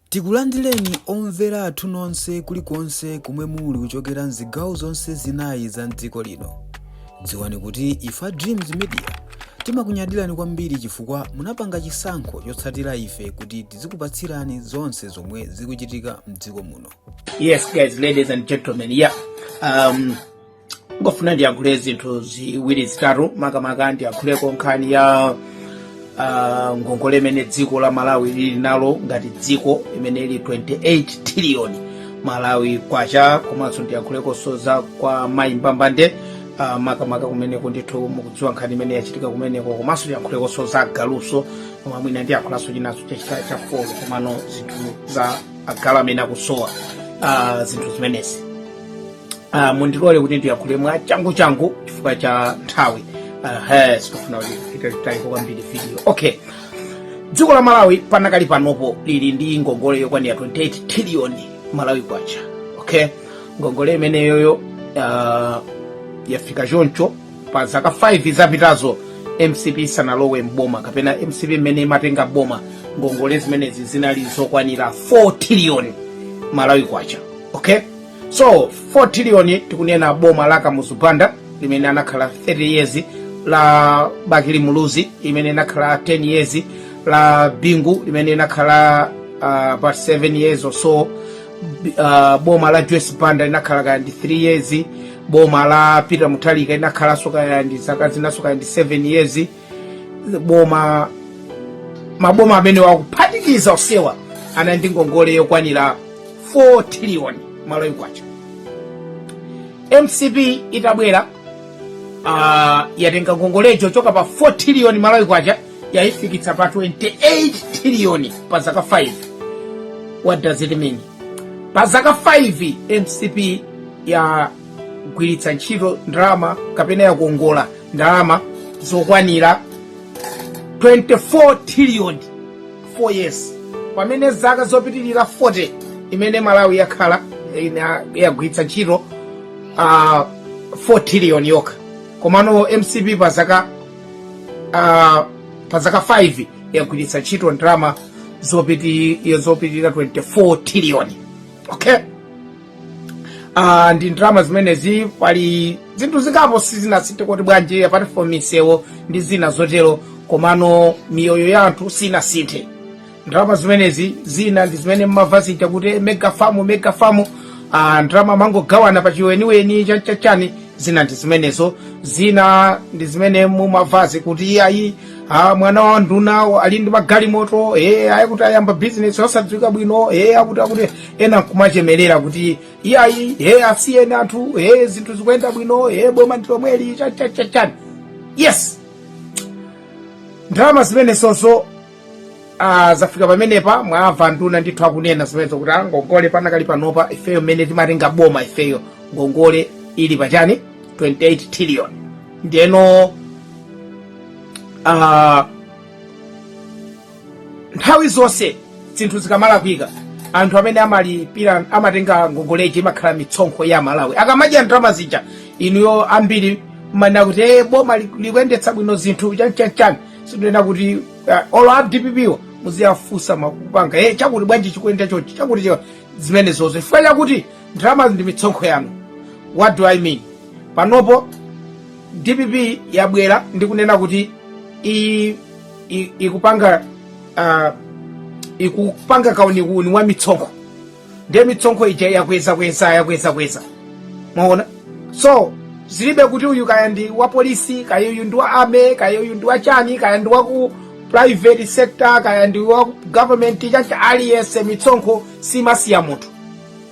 Tikulandireni omvera athu nonse kulikonse komwe muli kuchokera mzigawo zonse zinayi za mdziko lino. Dziwani kuti ife a Dreams Media timakunyadirani kwambiri chifukwa munapanga chisankho chotsatira ife kuti tizikupatsirani zonse zomwe zikuchitika mdziko muno. Yes, guys, ladies and gentlemen, yeah. Um, ndikufuna ndiyankhule zinthu ziwiri zitatu makamaka ndiyankhuleko nkhani ya uh, ngongole imene dziko la malawi lili nalo ngati dziko imene ili 28 triliyoni malawi kwacha komanso ndiyankhulekonso za kwa mayi mbambande uh, makamaka kumeneko ndithu mukudziwa nkhani imene yachitika kumeneko komanso ndiyankhulekonso za galuso koma mwina ndiyankhulanso chinanso chachita cha folo komano zinthu za agalu amene akusowa uh, zinthu zimenezi uh, mundilole kuti ndiyakhule mwa changu changu chifukwa cha nthawi uh, sindikufuna kuti italike kwambiri video okay dziko la malawi panakali panopo lili ndi ngongole yokwanira 28 trillion malawi kwacha okay ngongole imeneyoyo uh, yafika choncho pa zaka 5 zapitazo mcp isanalowe m'boma kapena mcp mmene imatenga boma ngongole zimenezi zinali zokwanira 4 trillion malawi kwacha okay so 4 trillion tikunena boma la kamuzu banda limene anakhala 30 years la bakili muluzi imene inakhala 10 years la bingu limene inakhala uh, about 7 years or so B- uh, boma la joyce banda linakhala kaya ndi 3 years boma la peter mutharika inakhalanso kaya ndi zaka zinanso kaya ndi 7 years boma maboma amenewa kuphatikiza onsewa anali ndi ngongole yokwanira 4 trillion malawi kwacha mcp itabwera uh, yatenga ngongole kuchoka pa 4 trillion malawi kwacha yaifikitsa pa 28 trillion pa zaka 5 what does it mean pa zaka 5 mcp ya gwiritsa ntchito ndalama kapena yakongola ndalama zokwanira 24 trillion 4 years pamene zaka zopitirira 40 imene malawi yakhala ina- yagwiritsa ntchito uh, 4 trillion yokha komano mcp pa zaka uh, pa zaka 5 yagwiritsa ntchito ndalama zopiti- zopitirira 24 trillion okay Ah, ndi ndalama zimenezi pali zinthu zingapo zinasintha kuti bwanji apart from misewo ndi zina zotero komano miyoyo ya anthu sinasinthe ndalama zimenezi zina ndi zimene mmamva zija kuti mega farm mega farm ah, ndalama amangogawana pa chiweniweni chanchachani zina ndi zimenezo zina ndi zimene mumamvazi kuti ayi ah, mwana wa nduna ali ndi magalimoto eh, ayi kuti ayamba bizinesi osadziwika bwino eh, akuti akuti ena nkumachemerera kuti iyayi e asiyeni anthu e zinthu zikuyenda bwino e boma ndi lomweli chani chani chani chani yes ndalama zimenezonso ah, zafika pamenepa mwamva anduna ndithu akunena zimenezo kuti ah, ngongole panakali panopa ifeyo mmene timatenga boma ifeyo ngongole ili pachani 28 trillion ndiyeno ah, nthawi zonse zinthu zikamalakwika anthu amene amalipira amatenga ngongoleji imakhala mitsonkho ya Amalawi akamadya ndalama zija inuyo ambiri mmanena kuti e boma li- likuyendetsa bwino zinthu chanchanchani sikunena kuti uh, olo a DPP muziwafunsa mafunso e chakuti bwanji chikuyenda chonchi chakuti cha zimene zonse chifukwa chakuti ndalamazi ndi mitsonkho yanu what do i mean panopo dpp yabwera ndi kunena kuti iyi i- ikupanga ah, ikupanga kauniuni wa mitsonkho ndiye mitsonkho ija yakwezakweza yakwezakweza mwaona so zilibe kuti uyu kaya ndi wa polisi kaya uyu ndi wa army kaya uyu ndi wa chani kaya ndi wa ku private sector kaya ndi wa ku government chanchani aliyense mitsonkho simasiya munthu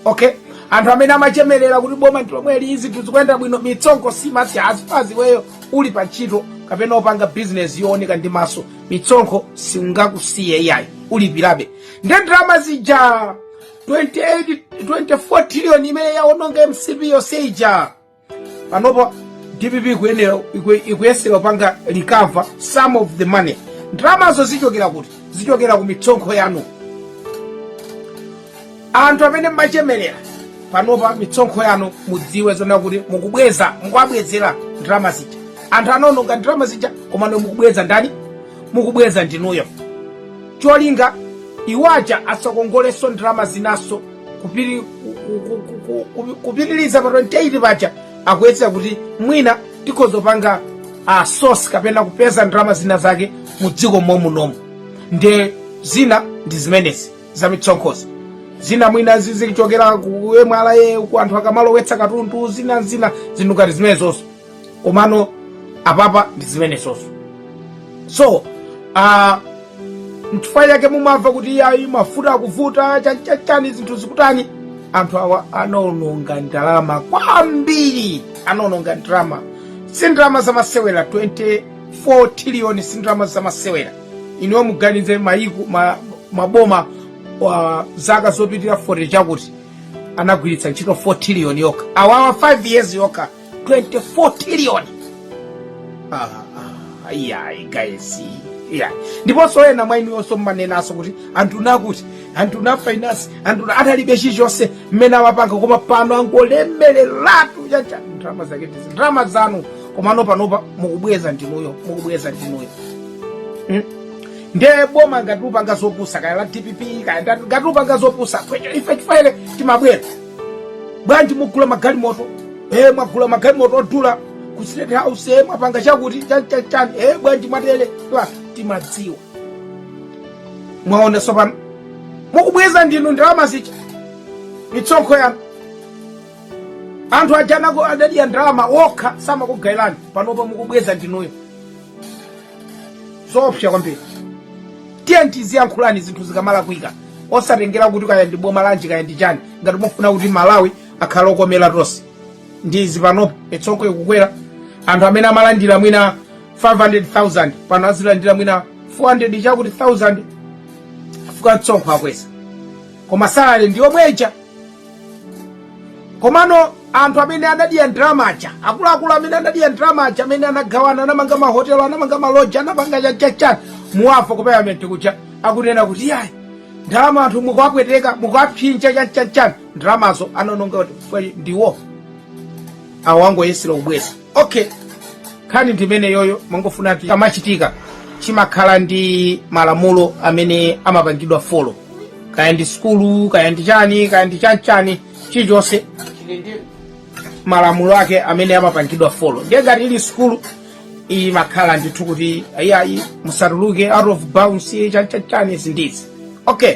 okay anthu amene amachemerera kuti boma ndilomweli izi zinthu zikuyenda bwino mitsonko simasiya zipani iweyo uli pa ntchito kapena opanga bizinesi yooneka ndi maso mitsonkho singakusiye ayi ulipirabe ndi ndalama zija 28 24 trillion imene yaononga mcp yonse ija panopo dpp ikuyenera iku- ikuyesera kupanga recover some of the money ndalamazo zichokera kuti zichokera ku mitsonkho yanu anthu amene mmachemerera panopa mitsonkho yanu mudziwe zoona kuti mukubweza mukuwabwezera ndalama zija anthu anaononga ndalama zija komano mukubweza ndani mukubweza ndinuyo cholinga iwaja asakongolenso ndalama zinanso kupiri- ku- ku- ku- ku- ku- kupitiriza pa 28 paja akuyesera kuti mwina tikhoza kupanga a source kapena kupeza ndalama zina zake mu dziko momunomo nde zina ndi zimenezi za mitsonkhozi zina mwina zizichokera ku mra ku anthu akamalowetsa katundu zina zina zinthu ngati zimenezozo komano apapa ndi zimenezozo so uh, mchifukwa chake mumamva kuti ayi mafuta akuvuta chanchachani zinthu zikutani anthu awa anaononga ndalama kwambiri anaononga ndalama si ndalama zamasewera 24 triliyoni si ndalama zamasewera inuyo muganize mayiku ma, maboma wa zaka zopitirira 40 chakuti anagwiritsa ntchito 4 triliyoni yokha awawa 5 years yokha 24 trillion Ah, ah, iyayi guys iyayi ndiponso ena mwa inuyonso mumanenanso kuti anthu nakuti anthu na finance anthu na- analibe chilichonse mmene amapanga koma pano angolemereratu chacha ndalama zake ndizi ndalama zanu komano panopa mukubweza ndinuyo mukubweza ndinuyo Mm. nde boma ngati likupanga zopusa kaya la dpp kaya nda- ngati likupanga zopusa ife tifaire timabwera bwanji mugula magalimoto e mwagula magalimoto odula ku state house e mwapanga chakuti chanchanchani e bwanji mwatere Twa, timadziwa mwaona sopano mukubweza ndinu ndalama zicha mitsonkho yanu anthu ajanako adadya ndalama wokha samakugayirani panopa mukubweza ndinuyo zoopsa kwambiri tiyeni tiziyankhulani zinthu zikamalakwika osatengera kuti kaya ndi boma lanji kaya ndi chani ngati mufuna kuti malawi akhale okomera tonse ndi izi panopo mitsonkho ikukwera anthu amene amalandira mwina 500000 pano azilandira mwina 400 chakuti 1000 fuka mtsonkho akweza koma salale ndi yomweja komano anthu amene anadya ndalama aja akuluakulu amene anadya ndalama aja amene anagawana anamanga mahotelo anamanga maloji anapanga chachachani muwamva ku parliament kuja akunena kuti yayi ndalama anthu mukuwapweteka mukuwapsinja chachachani ndalamazo anononga kuti ndiwo awo angoyesera ubwezi okay nkhani ndi imeneyoyo mangofuna kuti kamachitika chimakhala ndi malamulo amene amapangidwa folo kaya ndi sukulu kaya ndi chani kaya ndi chanchani chilichonse chili ndi malamulo ake amene amapangidwa folo ndiye ngati ili sukulu imakhala ndithu kuti ayiayi musatuluke out of bounds chanchani zindizi okay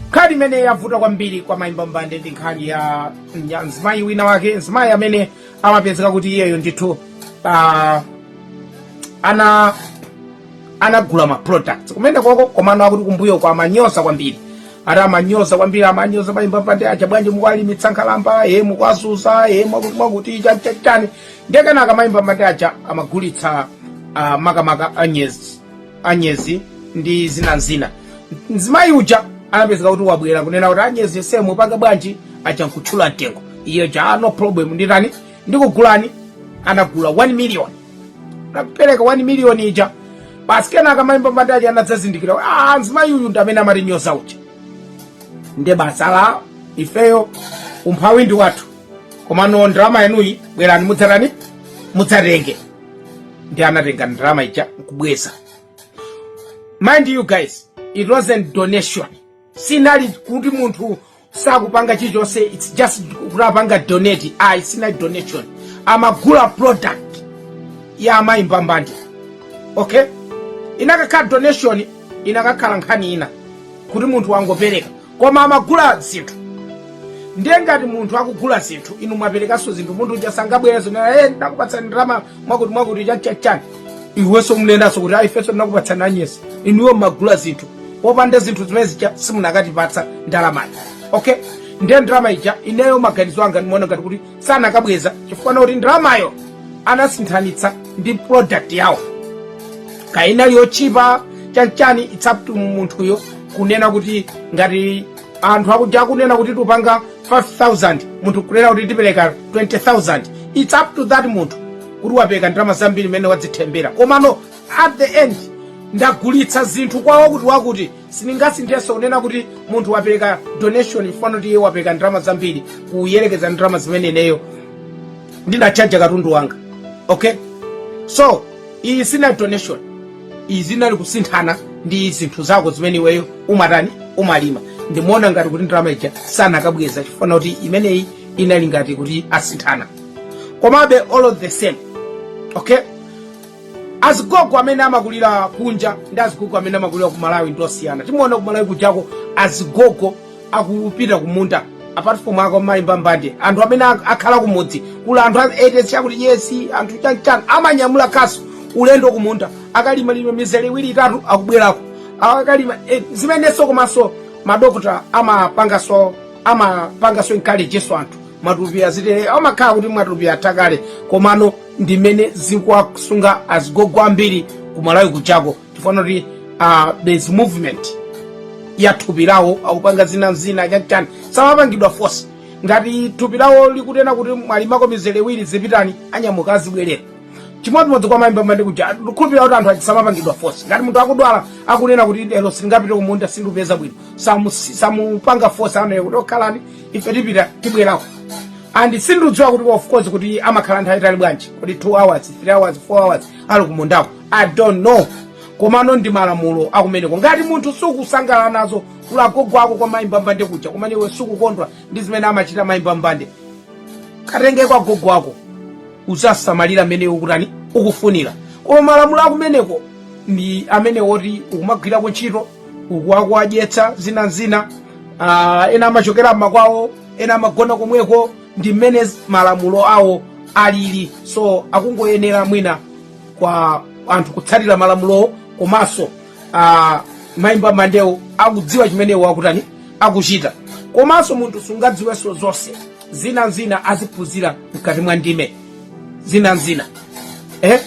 nkhani imene yavuta kwambiri kwa mayi mbambande ndi nkhani ya ya mzimayi wina wake mzimayi amene amapezeka kuti iyeyo ndithu ah, ana anagula ma products kumene koko komano akuti kumbuyoku amanyoza kwambiri ati amanyoza kwambiri amanyoza mayi mbambande aja bwanji mukwalimitsa nkhalamba ee mukuwazunza ee mwakuti mwakuti chani chani chani ndiye kenaka mayi mbambande aja amagulitsa ah, makamaka anyezi anyezi ndi zina nzina mzimayi uja anapezeka kuti wabwera kunena kuti anyezi yense mupanga bwanji aja nkutchula mtengo iye ja "Ah, no problem nditani ndikugulani anagula 1 million anapereka 1 million ija basi kenaka mai Mbambande anadzazindikira kuti, ah mzimayi uyu ndi amene amatinyoza uja nde basi ifeyo umphawi ndi wathu komano ndalama yanuyi bwerani mudzatani mudzatenge nde anatenga ndalama ija nkubweza mind you guys it wasn't donation sinali kuti munthu sakupanga chilichonse it's just kuti apanga donate ayi sinali donation amagula product ya amayi Mbambande okay inakakhala donation inakakhala nkhani ina kuti munthu wangopereka koma amagula zinthu ndiye ngati munthu akugula zinthu inu mwaperekanso zinthu munthu uja sangabwerenso nde ndinakupatsani ndalama mwakuti mwakuti chachachani iwenso munenanso kuti ifenso ndinakupatsani anyezi inuyo mmagula zinthu popanda zinthu zimene zija simunakatipatsa ndalamayo okay ndiye ndalama ija ineyo maganizo anga ndimaona ngati kuti sanakabweza chifukwa chakuti ndalamayo anasinthanitsa ndi product yawo kaya inali yotchipa chanchani it's up to munthuyo kunena kuti ngati anthu akuja akunena kuti tipanga 5000 munthu kunena kuti tipereka 20000 it's up to that munthu kuti wapereka ndalama zambiri mmene wadzithengera komano at the end ndagulitsa zinthu kwa wakuti wakuti sindingasinthenso kunena kuti munthu wapereka donation chifukwa kuti iye wapereka ndalama zambiri kuyerekeza ndalama zimene ineyo ndinatchajira katundu wanga okay so iyi sinali donation iyi zinali kusinthana ndi zinthu zako zimene iweyo umatani umalima ndimaona ngati kuti ndalama ija sanakabweza chifukwa kuti imeneyi inali ngati kuti asinthana komabe all the same okay azigogo amene amakulira kunja ndi azigogo amene amakulira ku Malawi ndi osiyana timaona ku Malawi kujako azigogo akupita kumunda apart from kwa mai Mbambande anthu amene ak- akhala kumudzi kuli anthu ma 80 years 90 years anthu chanchan amanyamula khasu ulendo kumunda akalima lima mizere iwiri itatu akubwerako akalima eh, zimenenso komanso madokotala amapanganso amapanganso encourage-nso anthu matupi azitele amakhala kuti matupi atakale komano ndimene zikuwasunga azigogo ambiri ku Malawi kujako chifukwa kuti uh, there's movement ya thupi lawo akupanga zina zina chachani samapangidwa force ngati thupi lawo likunena kuti mwalimako mizere iwiri zipitani anyamuka azibwerera chimodzimodzi kwa mayi Mbambande kuja ndikhulupirira kuti anthu ake samapangidwa force ngati munthu akudwala akunena kuti lero sindingapite kumunda sindikupeza bwino samu- samupanga force amawauza kuti oh khalani ife tipita tibwerako and sindikudziwa kuti of course kuti amakhala nthawi itali bwanji kuti 2 hours 3 hours 4 hours ali kumundako i don't know komano ndi malamulo akumeneko ngati munthu sukusangalala nazo kuli agogo ako kwa mayi mbambande kuja kumene iwe sukukondwa ndi zimene amachita mayi mbambande katenge agogo ako uzasamalira mmene ukutani ukufunira koma malamulo akumeneko ndi amene woti ukumagwirako ntchito uku akuwadyetsa zina zina uh, ena amachokera mmakwawo ena amagona komweko ndi mmene z- malamulo awo alili so akungoyenera mwina kwa anthu kutsatira malamulowo komanso uh, mayi mbambandewo akudziwa chimene iwo akutani akuchita komanso munthu sungadziwenso zonse zina zina aziphunzira mkati mwa ndime zina zina eh?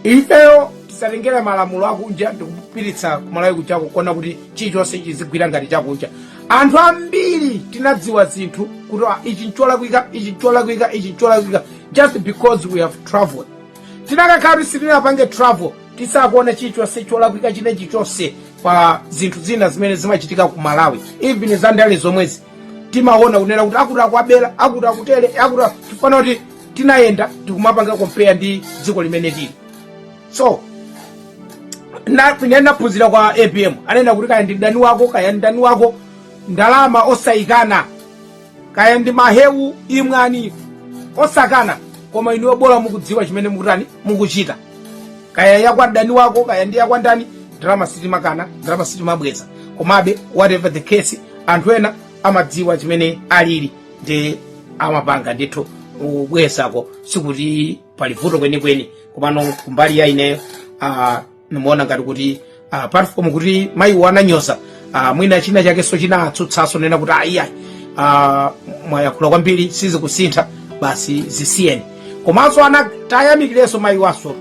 ifeyo tisatengere malamulo akunja ndikupititsa kumalawi kujako kuona kuti chilichonse chizigwira ngati chakunja anthu ambiri tinadziwa zinthu kuti "Ah, ichi ncholakwika ichi ncholakwika ichi ncholakwika just because we have traveled tinakakhala kuti sitinapange travel sitikanaona chilichonse cholakwika china chilichonse pa zinthu zina zimene zimachitika ku malawi even za ndale zomwezi timaona kunena kuti akuti akutibera akuti akutere akuti chifukwa kuti tinayenda tikumapanga compare ndi dziko limene tili so na- ine naphunzira kwa apm ananena kuti kaya ndi mdani wako kaya mdani wako ndalama osayikana kaya ndi mahewu imwani osakana koma inuyo bola mukudziwa chimene mukutani mukuchita kaya yakwa mdani wako kaya ndi yakwa ndani ndalama sitimakana ndalama sitimabweza komabe whatever the case anthu ena amadziwa chimene alili ndi amapanga ndithu kubwezako sikuti pali vuto kwenikweni komano kumbali ya ineyo ah, ndimaona ngati kuti ah, apart from kuti mayiwo ananyoza ah, mwina china chakenso china Tsutsanso kunena kuti ayiayi ah, mwayakhula kwambiri sizikusintha basi zisiyeni komanso anatayamikireso mayiwonso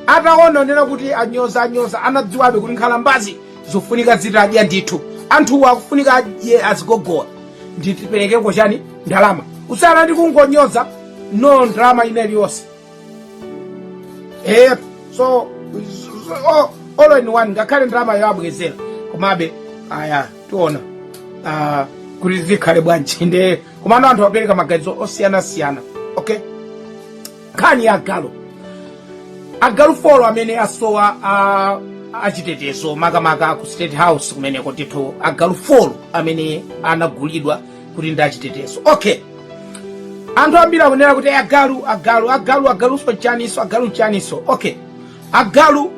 ataona kunena kuti anyoza anyoza anadziwabe kuti nkhalambazi zifunika zitadya ndithu anthuwo akufunika adye azigogowa nde tiperekeko chani ndalama kusiyana ndi kungonyoza no ndalama ina iliyonse eh so so- o- all in one ngakhale ndalamayo abwezera komabe aya tiona ah, kuti zikhale bwanji nde komano anthu apereka maganizo osiyanasiyana okay nkhani ya agalu agalu folo amene asowa achitetezo makamaka ku state house kumeneko ndithu agalu folo amene anagulidwa kuti ndi achitetezo okay anthu ambiri akunena kuti agalu agalu agalu agaluwo nchaniso agalu nchaniso okay agalu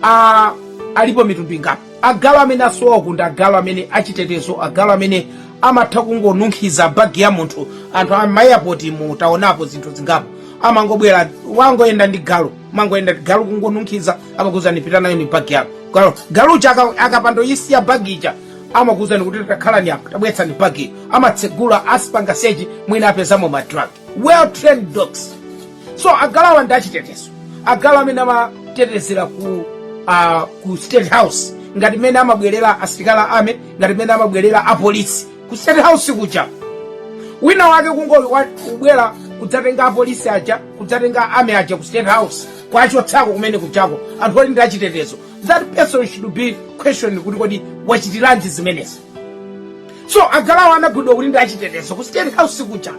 a alipo mitundu ingapo Agalu amene asowa ndi agalu achitetezo agalu amene amatha kungonunkhiza bag ya munthu anthu a ma airport mutaonapo zinthu zingapo amangobwera wangoyenda ndi galu mangoyenda ndi galu kungonunkhiza amakuuzani pita nayo ni bag yako galu galu uja aka- akapanda kuisiya bag ija amakuuzani kuti takhalani apa tabweretsani bag iyo amatsegula akupanga search mwina apezamo ma drugs well trained dogs so agaluwa ndi achitetezo agalu amene amatetezera ku uh, ku state house ngati mmene amabwerera asilikali a army ngati mmene amabwerera apolisi ku state house kuja wina wake kungoli wa- kubwera kudzatenga apolisi aja kudzatenga army aja ku state house kuwachotsako kumene kujako anthu oti ndi achitetezo that person should be questioned kuti kodi wachitiranji zimenezi so agaluwa anagulidwa kuti ndi achitetezo ku state house kuja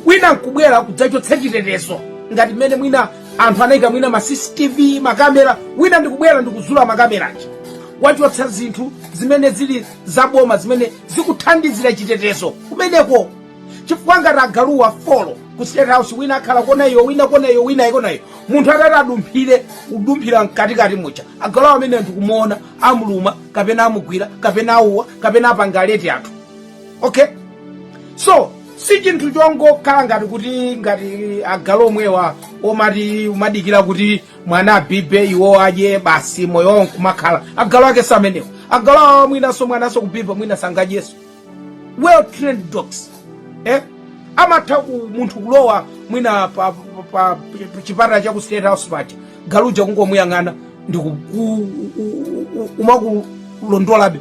wina nkubwera kudzachotsa chitetezo ngati mmene mwina anthu anayika mwina ma cctv makamera wina ndikubwera ndikuzula makamera aja wachotsa zinthu zimene zili zaboma zimene zikuthandizira chitetezo kumeneko chifukwa ngati agaluwa four ku state house wina akhala kona iyo wina kona iyo wina kona iyo munthu atati adumphire kudumphira mkatikati muja agaluwa amenewa kumuona amuluma kapena amugwira kapena auwa kapena apanga alert anthu okay so si chinthu chongokhala ngati kuti ngati agalu omwewa omati amadikira kuti mwana abibe iwo adye basi moyo wawo nkumakhala agalu ake si amenewo agalu awawa mwinanso mwananso kubiba mwina sangadyeso well trained dogs eh? amatha ku munthu kulowa mwina pa, pa, pa pa chipatala cha ku state house paja galuja kungomuyang'ana ndikuku kumakulondolabe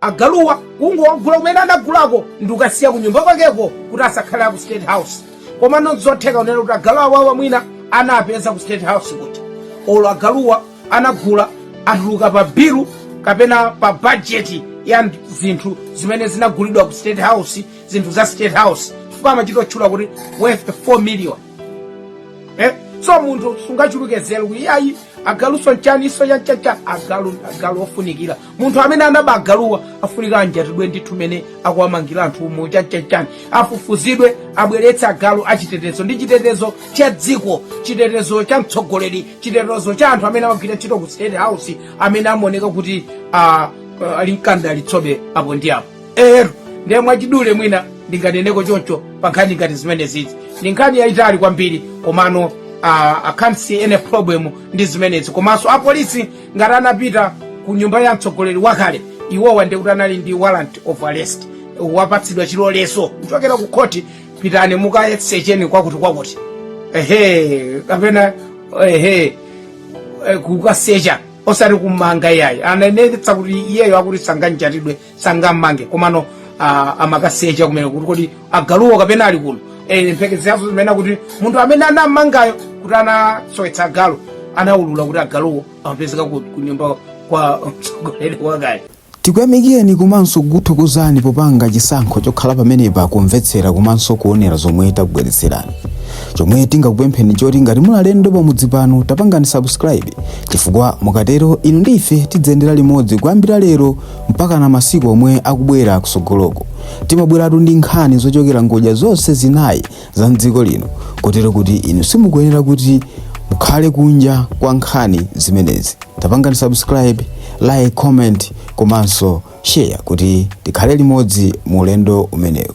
agaluwa kungowagula kumene anagulako ndikukasiya ku nyumba kwakeko kuti asakhale aku state house koma nzotheka kunena kuti agalu awawa mwina anapeza ku state house kuti olo agaluwa anagula atuluka pa bilu kapena pa bajeti ya nd- zinthu zimene zinagulidwa ku state house zinthu za state house chifukwa amachitotchula kuti worth 4 million eh? so munthu sungachuluke nzeru iyayi agaluso nchaniso chanichani agalu ofunikira munthu amene anaba agaluwa afunika anjatidwe ndithu mene akuwamangira anthu umu chanichani afufuzidwe abweretse agalu achitetezo ndi chitetezo cha dziko chitetezo cha mtsogoleri chitetezo cha anthu amene amagwira ntchito ku state house amene amaoneka kuti ah, ah, ali nkandalitsobe apo ndi apo eti ndiye mwachidule mwina ndinganeneko choncho pa nkhani ngati zimenezizi ndi nkhani yayitali kwambiri komano ah, i can't see any problem ndi zimenezi komanso apolisi ngati anapita ku nyumba ya mtsogoleri wakale iwowa ndi kuti anali ndi warrant of arrest apatsidwa chilolezo kuchokera ku khoti pitani mukasecheni kwakuti kwakuti ehe kapena ehe eh, kukasecha osati kumanga iyayi ananenetsa kuti iyeyo akuti sanganjatidwe sangammange komano ah, amakasecha kumene kuti kodi agaluwo kapena ali kuno Eh, mphekeserazo zimene kuti munthu amene anammangayo kuti anasowetsa agalu anaulula kuti agaluwo amapezeka ku ku nyumba kwa mtsogoleri wakale tikuyamikireni komanso kukuthokozani popanga chisankho chokhala pamenepa kumvetsera komanso kuonera zomwe takubweretserani chomwe tingakupempheni choti ngati muli alendo pamudzi pano tapangani subscribe chifukwa mukatero inu ndi ife tidziyendera limodzi kuyambira lero mpakana masiku omwe akubwera kusogoloko timabweratu ndi nkhani zochokera ngodya zonse zinayi za mdziko lino kotero kuti inu simukuyenera kuti mukhale kunja kwa nkhani zimenezi tapangani subscribe like comment komanso share kuti tikhale limodzi mu ulendo umenewu